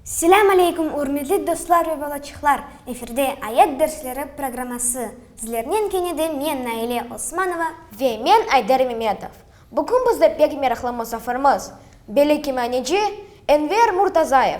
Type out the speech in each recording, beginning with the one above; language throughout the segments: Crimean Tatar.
Selâm aleykum, ürmetli dostlar ve balaçıqlar! Efirde Ayat dersleri programması. Sizlernen kene de men, Naile Osmanova. Ve men, Ayder Memetov. Bugün bizde pek meraqlı musafirmiz, belli kimyaneci Enver Murtazayev.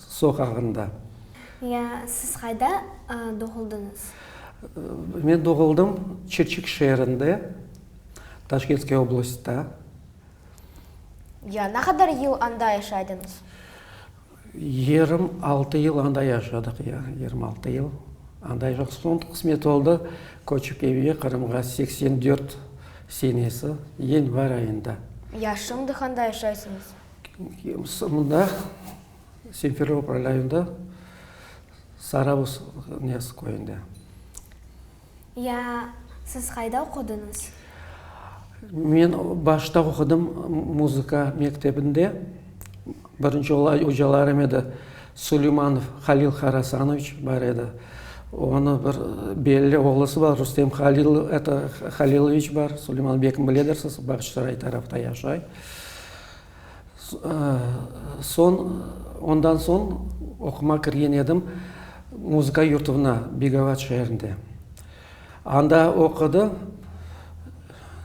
soqağında. Ya siz qayda doğuldıñız? Men doğuldım Çirçik şeerinde, Taşkentskıy oblastda. Ya ne qadar yıl anda yaşaydıñız? Yirmi altı yıl anda yaşadıq, ya, yirmi altı yıl anda yaşadıq. Soñ qısmet oldı, köçip evge, Qırımğa, seksen dört senesi, yanvar ayında. Ya şimdi qanda yaşaysıñız? Mında Simferopol rayonında Sarabuz Nez köyünde. Ya siz qayda oqudıñız? Men başta oqudım muzıka mektebinde. Birinci olay ocalarım edi, Suleymanov Halil Harasanoviç bar edi. Onı bir belli oğlusı bar, Rustem Haliloviç bar, Suleyman bekim biledirsiz, Bağçısaray tarafta yaşay. Soñ, ondan soñ oqumağa kirgen edim muzıka yurtuvna, Begovaç şeerinde. Anda oqudı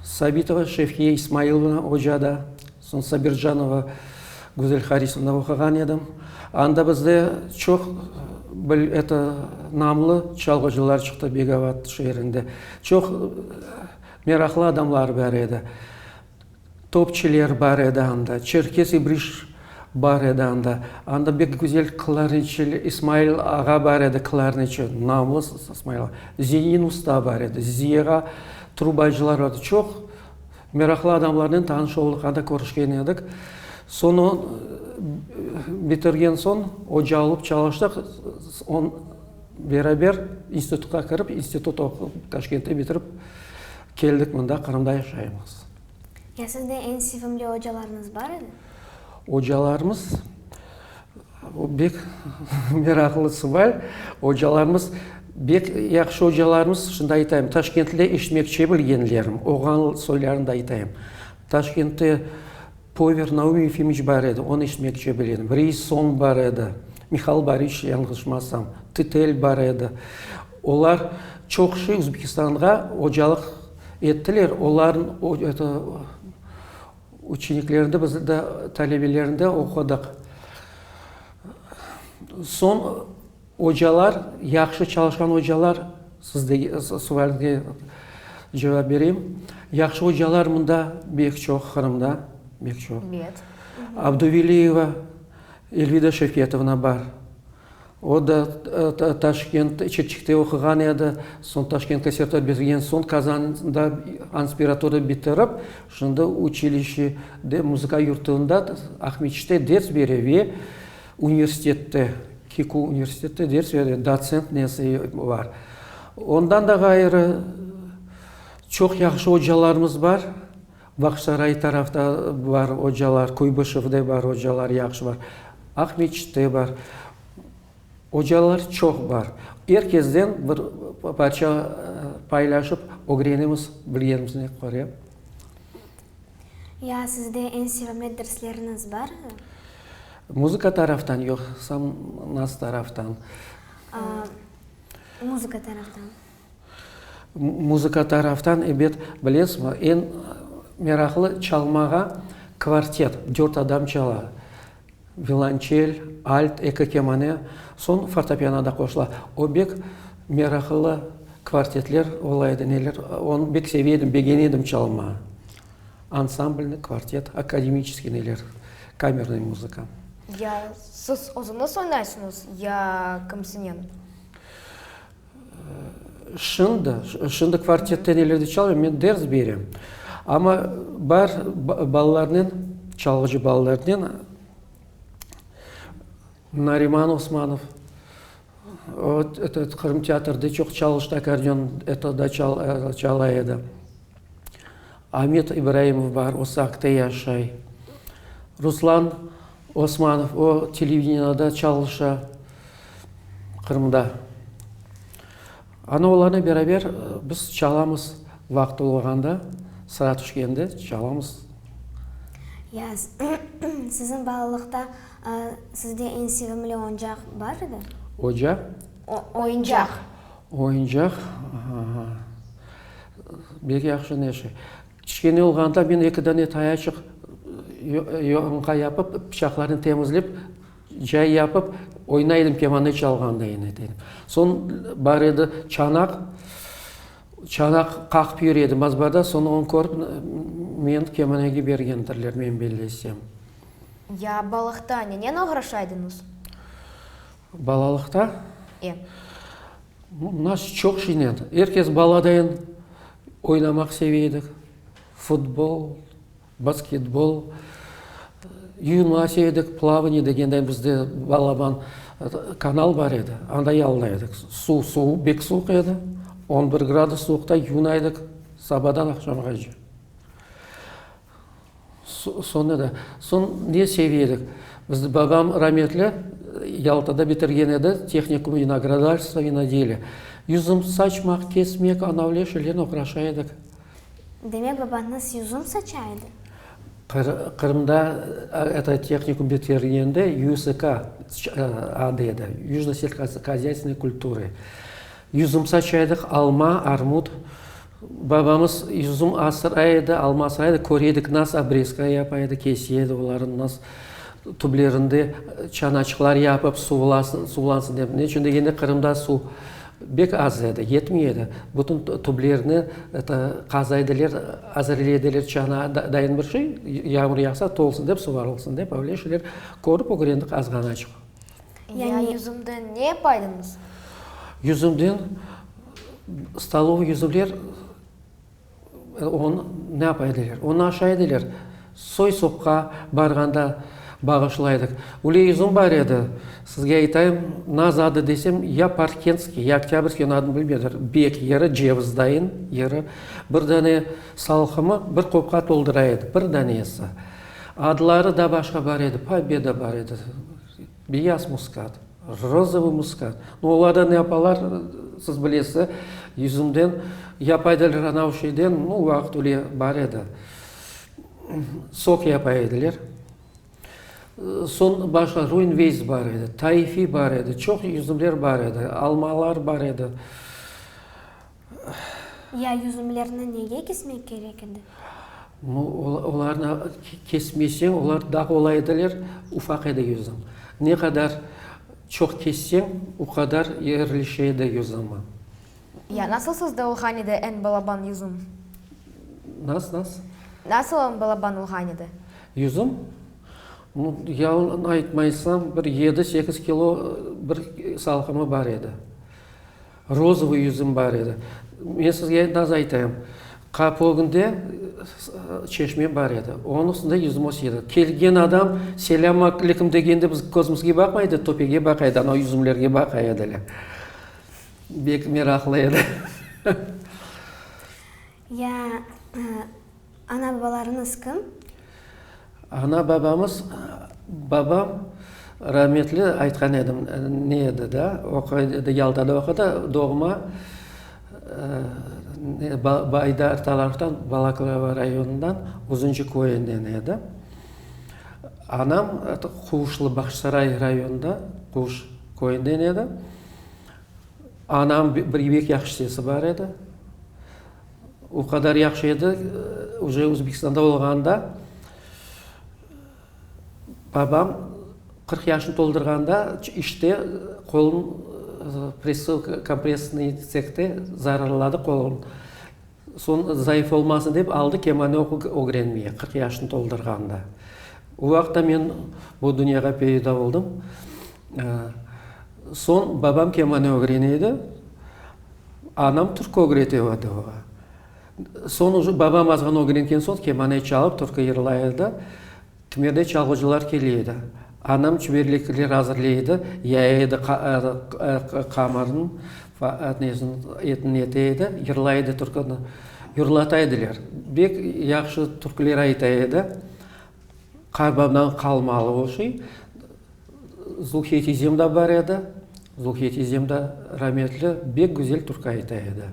Sabitova Şevkiye İsmailovna oca da, soñ Sabirjanova Güzel Harisovna oquğan edim. Anda bizde çoq bil, eto, namlı çalğıcılar çıqtı Begovaç şeerinde. Çoq meraqlı adamlar bar edi. Topçiler bar edi anda, Çerkez İbriş bar edi anda, anda bek güzel klarnetçiler, İsmail ağa bar edi, klarnetçi, namlı İsmail ağa, Zenin usta bar edi, Ziyera, trubacılar edi. Çoq meraqlı adamlarnen tanış oldıq, anda körüşken edik. Soñu bitirgen soñ oca alıp çalıştıq, beraber institutqa kirip, institut oqup, Taşkentte bitirip, Keldik mında, Qırımda yaşaymız. Ya sizde eñ sevimli ocalarıñız bar edi? Ocalarımız, o bek meraqlı suval. Ocalarımız, bek yahşı ocalarımız, şunday aytayım, Taşkentte işlemekçe bilgenlerim, oğan soylarını da aytayım. Taşkentte Pover Naum Yefimiç bar edi, onı işlemekçe biledim. Reis Son bar edi, Mihal Boriç, yanğışmasam, Titel bar edi. Olar çoq şey Özbekistanğa ocalıq ettiler. Olarnıñ eto uçeniklerinde biz de talebelerinde oqudıq. Soñ ocalar, yahşı çalışqan ocalar, siz de sualge cevap bereyim. Yahşı ocalar mında bek çoq, Qırımda bek çoq. Abduveliyeva Elvida Şefetovna bar. O da Taşkent, Çirçikte oquğan edi. Soñ Taşkent konserte bergen soñ Qazanda anspiratura bitirip, şimdi uçilişede, muzıka yurtunda, Aqmescitte ders bere ve universitette, KİKU universitette ders bere, dotsent nesi bar. Ondan da ğayrı, çoq yahşı ocalarımız bar. Vaqsaray tarafta bar ocalar, Kuybışevde bar ocalar, yahşı bar. Aqmeçitte bar. Ocalar çoq bar. Er kesden bir parça paylaşıp ögrenemiz, bilgenimizni köre. Ya sizde eñ sevimli dersleriniz barmı? Muzıka taraftan yoqsa naz taraftan? Muzıka taraftan. Muzıka taraftan, ebet, bilesmi, eñ meraqlı çalmağa kvartet, dört adam çala. Vilonçel, alt, eki kemane, soñ fortopiano da qoşula. O bek meraqlı kvartetler ola edi, neler, onı bek seve edim, begene edim çalmağa. Ansamblniy, kvartet, akademiçeskiy neler, kamernıy muzıka. Ya siz özüñiz oynaysıñız, ya kimsinen? Şimdi, şimdi kvartette nelerdi çalıram, men ders berem. Amma bar balalarnen, çalğıcı balalarnen Nariman Osmanov, o, eto, Qırım teatrda çoq çalıştı, akordeon, eto da, çala edi. Amet İbraimov bar, o Saqte yaşay. Ruslan Osmanov, o televideniada çalışa Qırımda. Ana oğlanı beraber biz çalamız vaqıt olğanda, sıra tüşkende çalamız. Ya, siziñ balalıqta sizde eñ sevimli oñcaq bar edi? Ocaq? Oyuncaq. Oyuncaq, aha, bek yahşı neşe. Kiçkene olğanda men eki dane tayaçıq yonğa yapıp, pıçaqlarnen temizlep, cay yapıp oynay edim, kemane çalğanda yine de. Soñ bar edi çanaq, çanaq qaqıp yür edim azbada, soñ onı körip men kemanege bergendirler, men bellesem. Ya balıqta nennen oğraşaydıñız? Balalıqta? E. Nas çoq şeynen. Er kes baladayin oynamaq seve edik. Futbol, basketbol, yuvinma seve edik, plavaniye degenday bizde balaban kanal bar edi, anda yalına edik. Suv suv, bek suvuq edi. On bir gradus suvuqta yuvuna edik sabadan aqşamğa cı. Soñra da, soñ ne seviye edik? Bizni babam rametli Yaltada bitirgen edi, tehnikum vinogradarstva, vinodelya. Yüzüm saçmaq, kesmek, anavle şeylernen oğraşa edik. Demek, babañız yüzüm saça edi? Qırımda eto tehnikum bitirgende YSK adı edi, Yüjno selhozhozâytvenıy kultury. Yüzüm saça edik, alma, armut, Babamız üzüm asıra edi, alma asıra edi, köre edik, nas obrezka yapa edi, kese edi olarnı, nas tüblerinde çanaçıqlar yapıp, suvlansın dep. Ne içün degende, Qırımda suv bek az edi, yetmey edi. Bütün tüblerni qaza ediler, azırlay ediler, çana dayın bir şey, yağmur yağsa, tolsun dep, suvarılsın dep, öyle şeyler körip ögrendik azğanaçıq. Ya yüzümden ne yapaydınız? Yüzümden, stolov yüzüler onı ne yapa ediler? Onı aşa ediler. Soy-sopqa barğanda bağışlaydıq. Öyle yüzüm bar edi, sizge aytayım, naz adı desem, ya Parkentskiy, ya Oktâbrskiy, onı adını bilmediler, bek, yarı cevizdayın, yarı bir dane salxımı bir qopqa toldura edi, bir danesi. Adları da başqa bar edi, Pobeda bar edi, Beyaz muskat, Rozovıy muskat. No olarda ne yapalar, siz bilesiz, yüzümden, yapay edilir ana o şeyden, no o vaqıt öyle bar edi, sok yapay edilir. Soñ başqa Ruinveyz bar edi, Taifiy bar edi, çoq yüzümler bar edi, almalar bar edi. Ya yüzümlerni nege kesmek kerek edi? Olarnı kesmeseñ, olar daa olay ediler, ufaq edi yüzüm. Ne qadar çoq kesseñ, o qadar yerleşe edi yüzümi. Ya nasıl sizde olğan edi eñ balaban yüzüm? Nasıl, nasıl? Nasıl eñ balaban olğan edi? Yüzüm? No, yalın aytmaysam, bir yedi-sekiz kilo bir salqımı bar edi. Rozovıy yüzüm bar edi. Men sizge nasıl aytayım, qapı ögünde çeşme bar edi. Onıñ üstünde yüzüm öse edi. Kelgen adam selâm aleykum degende biz közümizge baqmay edi, töpege baqa edi, anav yüzümlerge baqa ediler. Bek meraqlı edi. Ya ana-babalarıñız kim? Ana-babamız, babam rahmetli, aytqan edim, ne edi da, oquy edi, Yaltada oqudı, doğma Baydar taraftan, Balaklava rayonından, Uzunçı köyünden edi. Anam Quvuşlı, Bahçısaray rayonından, Quvuş köyünden edi. Anam bir bek yahşı sesi bar edi. O qadar yahşı edi, uje Özbekistanda olğanda, babam qırq yaşını toldurğanda işte qolun, kompressnıy tsekte zararladı qolun. Soñ zayıf olmasın dep aldı kemanı ögrenmeye, qırq yaşını toldurğanda. O vaqıtta men bu dünyağa peyda oldım. Soñ babam kemanı ögrene edi, anam türkü ögrete edi oña. Soñ, babam azğan ögrengen soñ kemanı çalıp, türkü yırlay edi. Tümerde çalğıcılar kele edi. Anam çüberlekler azırlay edi, yaya edi, qamarın etini ete edi, yırlay edi türküni. Yırlata ediler. Bek yahşı türküler ayta edi. Qarbabdan qalma alıvı şey. Zulfiye tizem da bar edi. Zulfiye tizem da rametli bek güzel türkü ayta edi.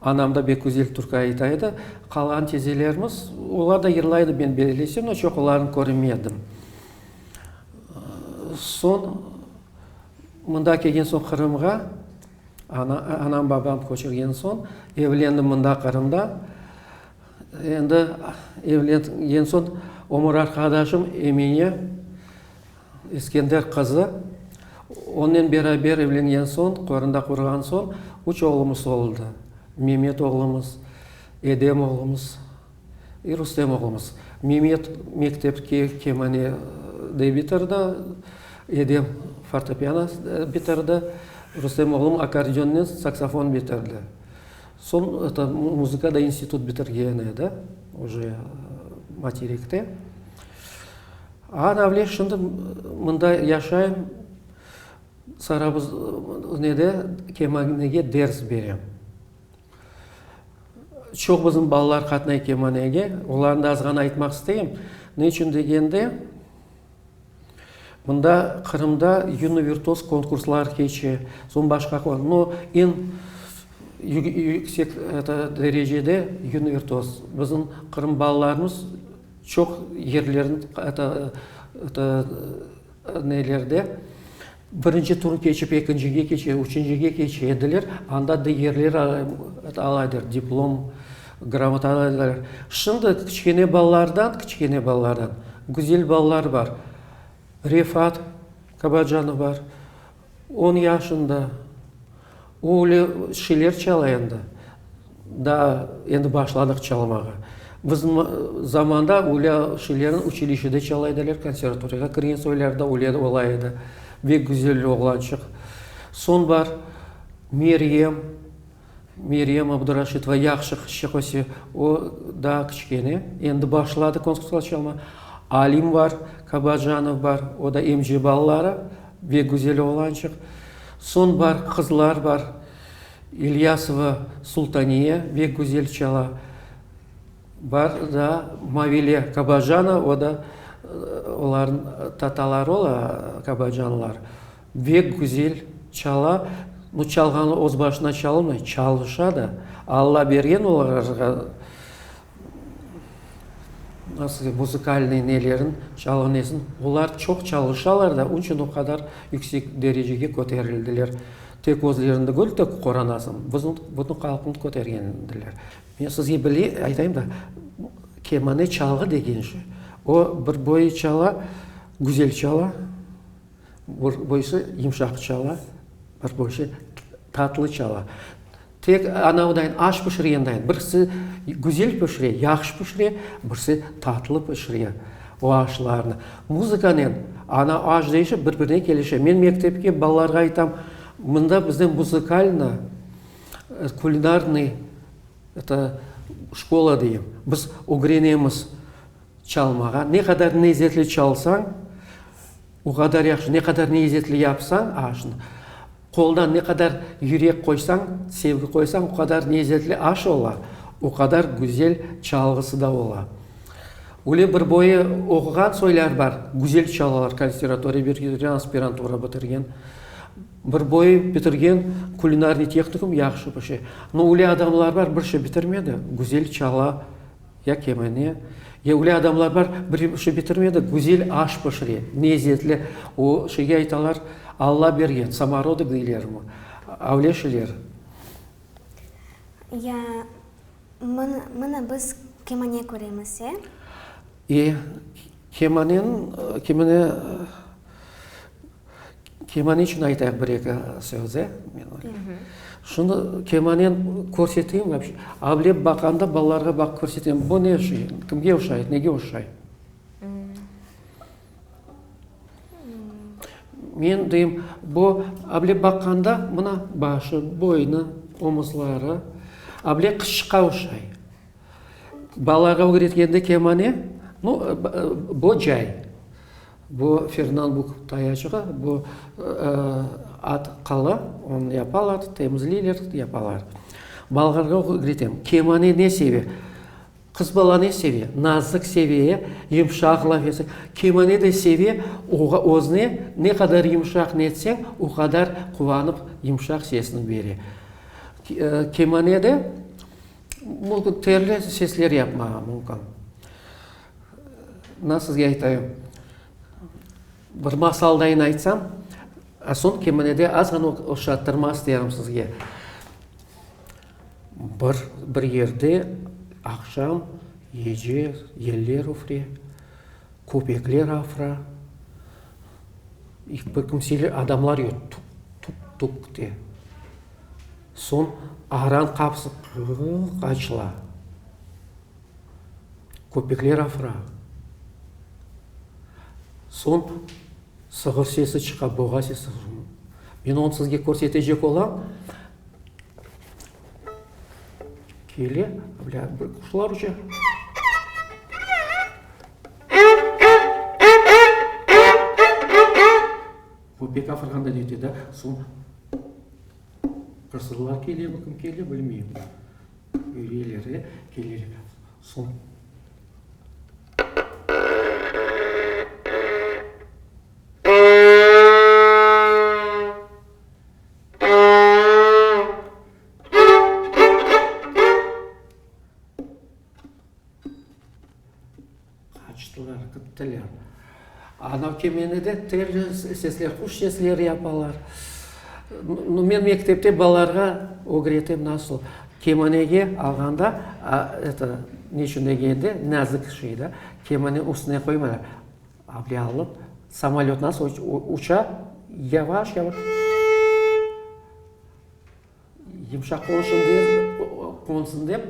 Anam da bek güzel türkü ayta edi. Qalan tezelerimiz, olar da yırlaydı, men beleleysem, amma çoqularını körmedim. Soñ, mında kelgen soñ Qırımğa, ana, anam, babam köçürgen soñ, evlendim mında, Qırımda. Endi evlengen soñ ömür arqadaşım Emine Eskender qızı. Onnen beraber evlengen soñ, köründe qurğan soñ, üç oğlumız oldı. Memet oğlumız, Edem oğlumız, i Rustem oğlumız. Memet mektepke kemane de bitirdi, Edem fortepiano bitirdi, Rustem oğlum akkordeonnen saksofon bitirdi. Soñ muzıka da institut bitirgen edi, oje materekte. Anavle şimdi mında yaşayım, Sarabuz nede kemanege ders berem. Çoq bizim balalar qatnay kemanege. Olarnı da azğana aytmaq isteyim. Ne içün degende. Mında Qırımda yunı virtuoz konkurslar keçe, soñ başqa qon, no, eñ yüksek eto derecede yunı virtuoz. Bizim Qırım balalarımız çoq yerlerin eto, eto, nelerde Birinci turı keçip, ekincige keçe, üçüncige keçe ediler, anda digerler ala ediler, diplom, gramota ala ediler. Şimdi kiçkene balalardan, kiçkene balalardan güzel balalar bar. Refat Kabacanov bar, on yaşında. O öyle şeyler çala endi. Daa endi başladıq çalmağa. Bizim zamanda öyle şeylerni uçilişede çala ediler, konservatoriyağa kirgen soylarda öyle ola edi. Bek güzel oğlançıq. Soñ bar, Meryem, Meryem Abduraşitova, yahşı qızçıq öse. O daa kiçkene, endi başladı konservatoriyada çalmağa. Alim bar, Kabajanov bar, o da MG balaları, bek güzel oğlançıq. Soñ bar, qızlar bar, İlyasova Sultaniye ve Güzel Çala bar, daa Mavile Kabajana, o da olarnıñ tataları ola, kabajanlar, ve Güzel Çala, bu çalğanı öz başına çalmay, çalışa da, Alla bergen olarğa. Nasıl, muzikalnıy nelerin çalğanıysın? Olar çoq çalışalar da, onıñ içün o qadar yüksek derecege köterildiler. Tek özlerinde gör, tek qoranasıñ, bütün halqnı kötergen ediler. Men sizge bile aytayım da, kemane çalğı degen şey, o, bir boyu çala, güzel çala. Boysı yımşaq çala, bir boysı tatlı çala. Tek anavıdayın, aş pişirgendayin, birisi güzel pişire, yahşı pişire, birisi tatlı pişire o aşlarnı. Muzıkanen ana aş deyişi bir birine kelişe. Men mektepke balalarğa aytam, mında bizde muzikalnıy, kulinarnıy, eto, şkola deyim, biz ögrenemiz. Çalmağa, ne qadar nezetli çalsañ, o qadar yahşı, ne qadar nezetli yapsañ aşnı, qoldan ne qadar yürek qoysañ, sevgi qoysañ, o qadar nezetli aş ola, o qadar güzel çalğısı da ola. Öyle bir boyu oquğan soylar bar, güzel çalalar, konservatoriya bitirgen, aspirantura bitirgen, bir boyu bitirgen kulinarniy tehnikum, yahşı pişe. No öyle adamlar bar, bir şey bitirmedi, güzel çala, Ya kemine, ya öyle adamlar bar, biri bir şey bitirmey de, güzel aş pişire, lezzetli. O şeyge aytalar, Alla bergen, samorodok deylermi, öyle şeyler. Ya, mına biz kemine köremiz, e? E. Kemane, kemane, kemane içün aytayıq bir-eki söz, e? Şunı kemanen körseteyim mi? Avlep baqanda balalarğa baqıp körsetem, bu ne şey, kimge oşay, nege oşay? Men deyim, bu avlep baqanda mına, başı, boynı, omuzları, avlep qışçıqqa oşay. Balalarğa ögretkende kemane, no, bo cay, bo fernalbuk tayaçğı, bo at qala, onı yapalar, temizleyler, yapalar. Balalarğa ögretem. Kemane ne seve? Qız bala ne seve? Nazıq seve, yımşaq laf etse. Kemane de seve, oğa, özüne ne qadar yımşaq ne etseñ, o qadar quvanıp yımşaq sesini bere. Kemane de. Mumkün, terli sesler yapmağa mumkün. Na sizge aytayım, bir masaldayn aytsam, a soñ kemenede azğana oşattırmaz derim sizge. Bir, bir yerde aqşam, yece, yeller üfre, köpekler afra, bir kimseler, adamlar yoq, tuk, tuk, tuk, de. Soñ aran qapısı qırrrq açıla, köpekler afıra. Soñ sığır sesi çıqa, boğa sesi. Men onı sizge körsetecek olam. Kele, bilâ, bir quşlar uça. Köpek afırğanda netedi, soñ. Qasırlar kele, bu kim kele bilmeyim. Üyeleri kelir. Son. Qaçtılar, gittiler. Anav kemeni de terli sesler, quş sesleri yapalar. Nu, men mektepte balalarğa ögretem, nasıl kemanege alğanda, eto, ne içün degende, nazik şey da, kemane üstüne qoymaylar. Aple alıp, samolöt nasıl uça, yavaş-yavaş. Yımşaq olsun dep, qonsun dep,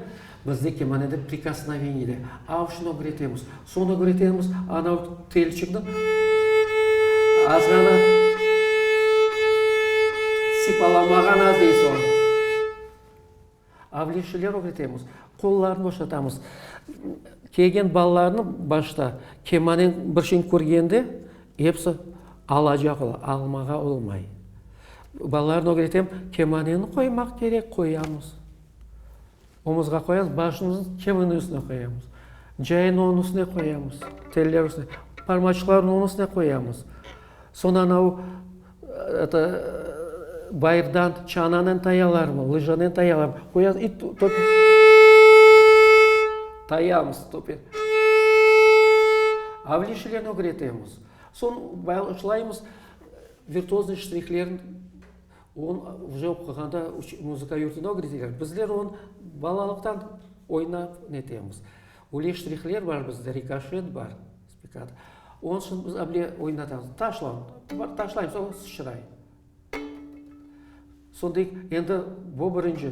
bizde kemanede prikosnoveniye de. Av şunı ögretemiz. Soñra ögretemiz, anav telçikni azğana sipalamağa naz dey soñ. Avliyşiler ögretemiz. Qollarnı oşatamız. Kelgen balalarnı başta kemaneni bir şeyni körgende, episi alacaq ola, almağa olmay. Balalarnı ögretem, kemaneni qoymaq kerek, qoyamız. Omuzğa qoyamız, başımızı kemaniñ üstüne qoyamız. Cayını onıñ üstüne qoyamız, telleri üstüne, parmaçıqlarını onıñ üstüne qoyamız. Soñ anau, eto, bayırdan çananıñ tayalarını, lıjanen tayalarını qoyamız i topi, tayamız topi. Avlişlerni ögretemiz. Soñ başlaymız. Virtuoznıy ştrihlern on uca oqığanda muzıka yurtında ögreteler. Bizler on balalıqtan oynap netemiz. Öyle ştrihler bar bizde, rikoşet bar, spikad. Onıñ içün biz able oynatamız. Taşla, bir taşlaymiz, o sıçray. Sonda endi bu birinci.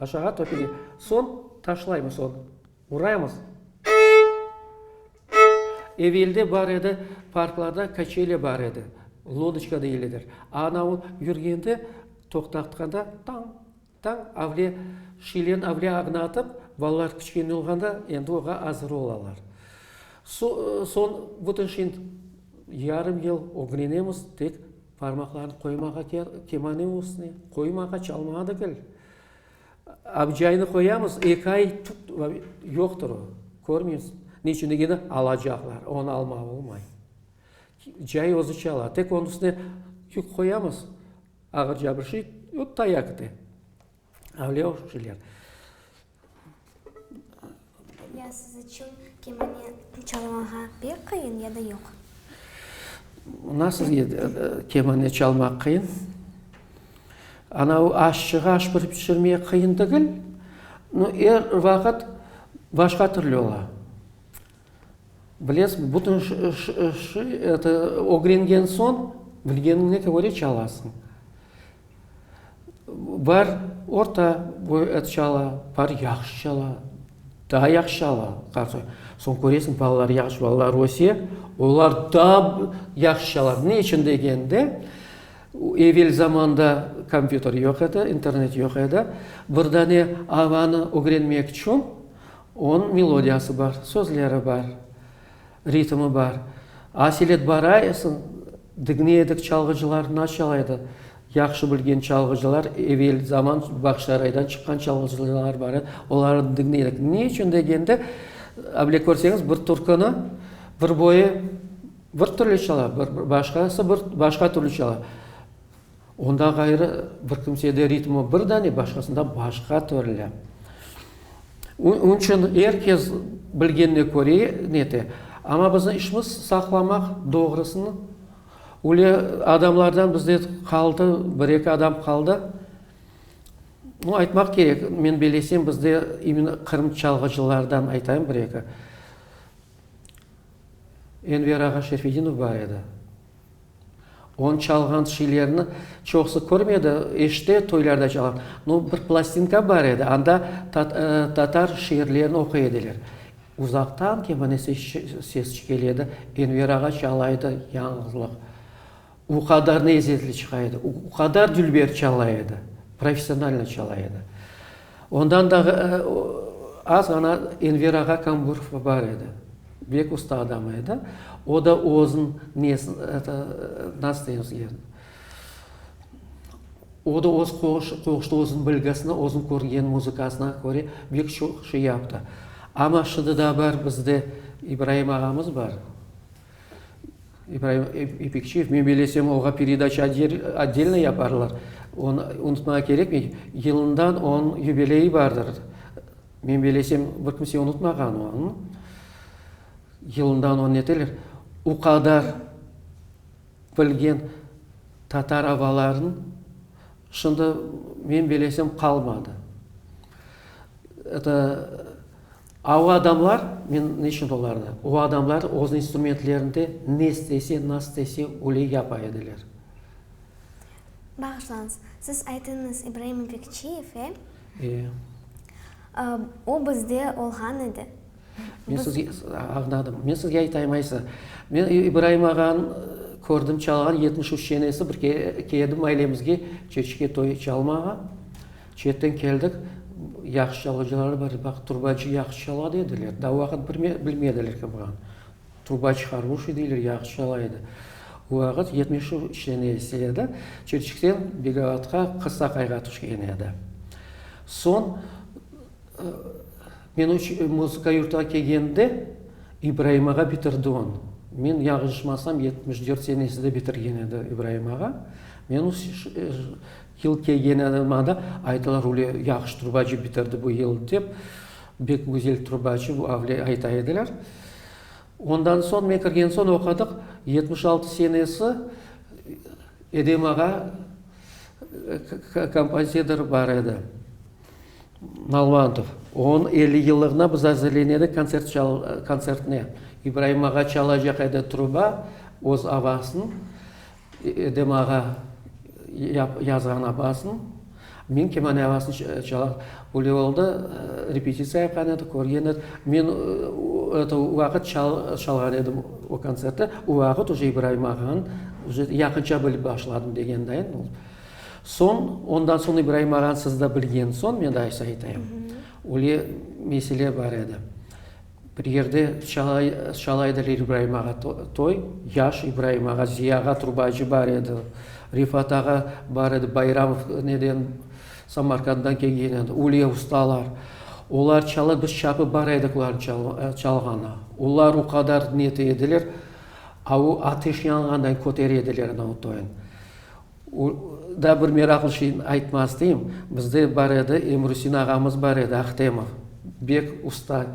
Aşağı töküle. Soñ taşlaymız onı. Uraymız. Evelde bar edi, parklarda kaçeli bar edi. Lodoçka deyledir. Ana o yürgende, toqtatqanda tañ, tañ, avle, şilen avle ağına atıp, balalar kiçkene olğanda endi oğa azır olalar. Soñ bütün şind yarım yıl ögrenemiz tek Parmaqlarını qoymağa kel, kemane ustüne, qoymağa, çalmağa da kel. Abcaynı qoyamız, eki ay tut, yoqtır o, körmeysiz. Ne içün degende, alacaqlar, onı almağa olmay. Cay özü çala, tek onıñ üstüne yük qoyamız, ağır cabırşıy, öp tayakı de. Avlâ oşçiler. Ya siz içün kemane çalmağa pek qıyın ya da yoq? Mına sizge kemane çalmaq qıyın. Ana o aşçığa aş pişirmek qıyın degil. No, er vaqıt başqa türlü ola. Bilesiz, bütün ögrengen soñ, bilgeniñe köre çalasıñ. Bar orta boy et çala, bar yahşı çala, daa yahşı çala. Soñ köresiñ, balalar yahşı balalar öse, olar daa yahşı çala. Ne içün degende, evel zamanda kompyuter yoq edi, internet yoq edi. Bir dane avanı ögrenmek içün onıñ melodiyası bar, sözleri bar, ritmi bar. Asil et barayısıñ, Digne edik, çalğıcılar na çalaydı? Yahşı bilgen çalğıcılar, evel zaman Bağçasaraydan çıqqan çalğıcılar bar edi, olarnı digne edik. Ne içün degende, abile körseñiz, bir türküni bir boyu bir türlü çala, bir başqası bir başqa türlü çala. Onda ğayrı bir kimsede ritmi bir dane, başqasında başqa türlü. Onıñ içün er kes bilgenine köre nete. Amma biziñ işimiz saqlamaq doğrusını. Öyle adamlardan bizde qaldı, bir eki adam qaldı. No aytmaq kerek, men belesem bizde imенно Qırım çalğıcılardan aytayım bir eki. Enver ağa Şerfedinov bar edi. Onı çalğan şeylerni çoqusı körmedi, işte toylarda çalğan. No, bir plastinka bar edi, anda tatar şiirlerini oquy ediler. Uzaqtan kemane ses çikele edi, Enver ağa çala edi, yañğılıq. O qadar nezzetli çıqa edi, o qadar dülber çala edi, professionalno çala edi. Ondan da az ğana Enver ağa Kamburov bar edi. Bek usta adam edi. O da özün nesin, eto, nasıl deymiz ki, o da öz qoğuşta özün bilgisine, özün körgen muzıkasına köre bek çoq şey yaptı. Amma şimdi da bar bizde İbraim ağamız bar. İbraim İpekçiyev, men bilesem, oğa peredaça otdelno yaparlar. Onı unutmağa kerekmey, yılından onıñ yubileyi bardır. Men bilesem, bir kimse unutmağan onı. Yılından onı neteler, o qadar bilgen tatar abalarınıñ şimdi men bilesem qalmadı. Eto, A O adamlar, men ne içün olarnı, o adamlar öz instrumentlerinde ne istese, nasıl istese, öyle yapa ediler. Bağışlañız, siz aytıñız, İbraim İpekçiyev, e? E. A O bizde olğan edi. Men sizge, añladım. Men sizge aytayım, Aysa. Men İbraim ağanı kördim, çalğan yetmiş üç çenesi bir kere edim ailemizge, çeçke toyı çalmağa. Çetten keldik, yahşı çalğıcıları bar edi, baqıt turbacı yahşı çala dediler. Da o vaqıt bilmediler ki, buran turbacı haruşiy deyler, yahşı çala edi. O vaqıt yetmişev işleme ise edi, Çirçikten Begavatqa qısa qayğa tüşken edi. Soñ men muzıka yurtuna kelgende İbraim ağa bitirdi on. Men yañlışmasam yetmiş dört senesinde bitirgen edi İbraim ağa. Men Yıl kelgeni anılmada, aytalar, üle yahşı trubacı bitirdi bu yıl dep, bek güzel trubacı bu avle ayta ediler. Ondan soñ, men kirgen soñ oqadıq, yetmiş altı senesi Edem ağa kompozitor bar edi, Nalvantov. Onıñ elli yıllığına biz azırlenedik kontsert çal, kontsertine. İbraim ağa çalacaq edi truba, öz avasın. Edem ağa yazğanına basın, men kemane ağasını çalam. Böyle oldı, repetisiya yapqan edik, körgen edik. Men o vaqıt çalğan edim o kontsertte. O vaqıt uje İbraim ağanı uje yaqınca bilip başladım degendayin oldı. Soñ, ondan soñ İbraim ağanı siz de bilgen soñ, men de aysa aytayım. Öyle mesele bar edi. Bir yerde Çalayda İbraim ağa toy, yaş İbraim ağa, Ziya ağa turbacı bar edi, Refat ağa bar edi, Bayramov neden, Samarqanddan kelgen edi, Ulya ustalar. Olar çalar, biz çapı bar edik olar çalğanı. Olar o qadar neti ediler, ateş yanğanda köter ediler ana o toyun. O da bir meraqlı şeyni aytmaq isteyim, bizde bar edi, Emrusin ağamız bar edi, Ahtemov, bek usta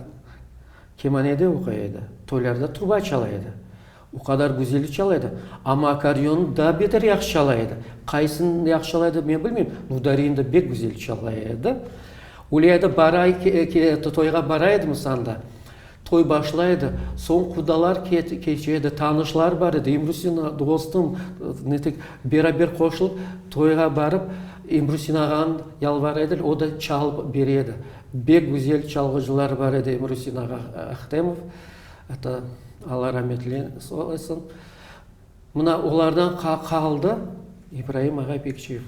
kemanede oqay edi, toylarda turba çala edi. O qadar güzel çala edi, amma akkordeonı daa beter yahşı çala edi. Qaysını yahşı çala edi, men bilmeyim, Nudarini de bek güzel çala edi. Öyle edi, toyğa bara edimiz anda, Toy başla edi, soñ qudalar keçe edi, tanışlar bar edi, İmrusina, dostum, netik, beraber qoşılıp toyğa barıp, İmrusin ağanı yalvara ediler, o da çalıp bere edi. Bek güzel çalğıcılar bar edi İmrusin ağa Ahtemov, ata, Alla rametli olsun. Mına olardan qaldı İbraim ağa Pekçiyev.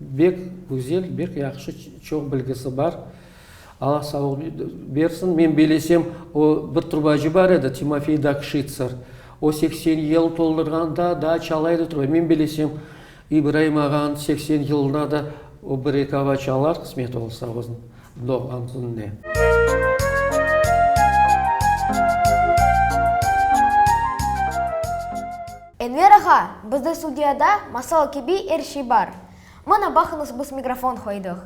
Bek güzel, bek yahşı, çoq bilgisi bar. Alla sağlıq bersin. Men bilesem, o bir trubacı bar edi, Timofey Dakşitser. O seksen yıl toldurğanda daa çala edi truba. Men bilesem, İbraim ağanıñ seksen yılında da o bir-eki ava çalar, qısmeti olsa oznıñ. doğğan kününe. Enver ağa, bizde studiyada masal kibi er şey bar. Mana baqıñız biz mikrofon qoydıq.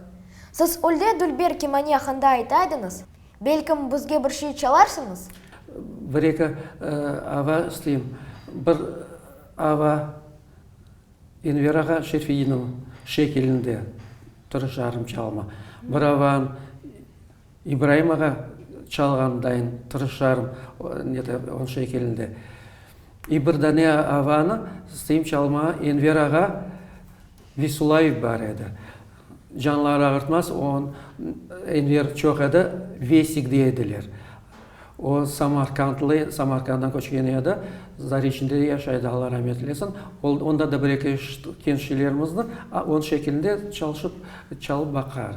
Siz Ulde dülber kemani aqında ayta ediñiz, belkim bizge bir şey çalarsıñız? Bir-eki ava isteyim. Bir ava. Enverağa Şefiyniñ şekilinde bir jarım çalma, bıravan İbraim ağa çalğandayın bir jarım onıñ şekilinde. İ bir dane avanı isteyim çalma, Enverağa Visulayev bar edi. Canlarıağırtmaz on Enver çoq edi, Vesik dey ediler. O, samarqandlı, Samarqanddan köçken edi, Zariçnde yaşaydı, Alla ramet eylesin. Ol, onda da bir-eki genç şeylerimiz bar, a on şekilinde çalışıp, çalıp baqar.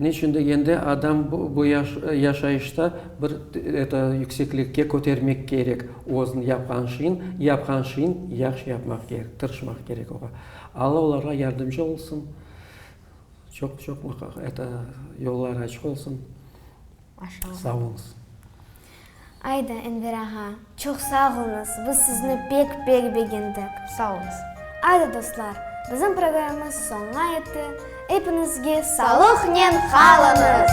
Neçün degende, adam bu yaşayışta bir yükseklikke kötermek kerek özün, yapqan şeyin, yapqan şeyin yahşı yapmaq kerek, tırışmaq kerek oğa. Alla olarğa yardımcı olsun, çoq-çoq yolları açıq olsun. Maşallah. Sağ olunız. Ayda, Enver ağa, çoq sağ olunız, biz sizni pek-pek begendik. Sağ olunız. Ayda, dostlar, bizim programmız soña etti, epinizge salıqnen qalınız!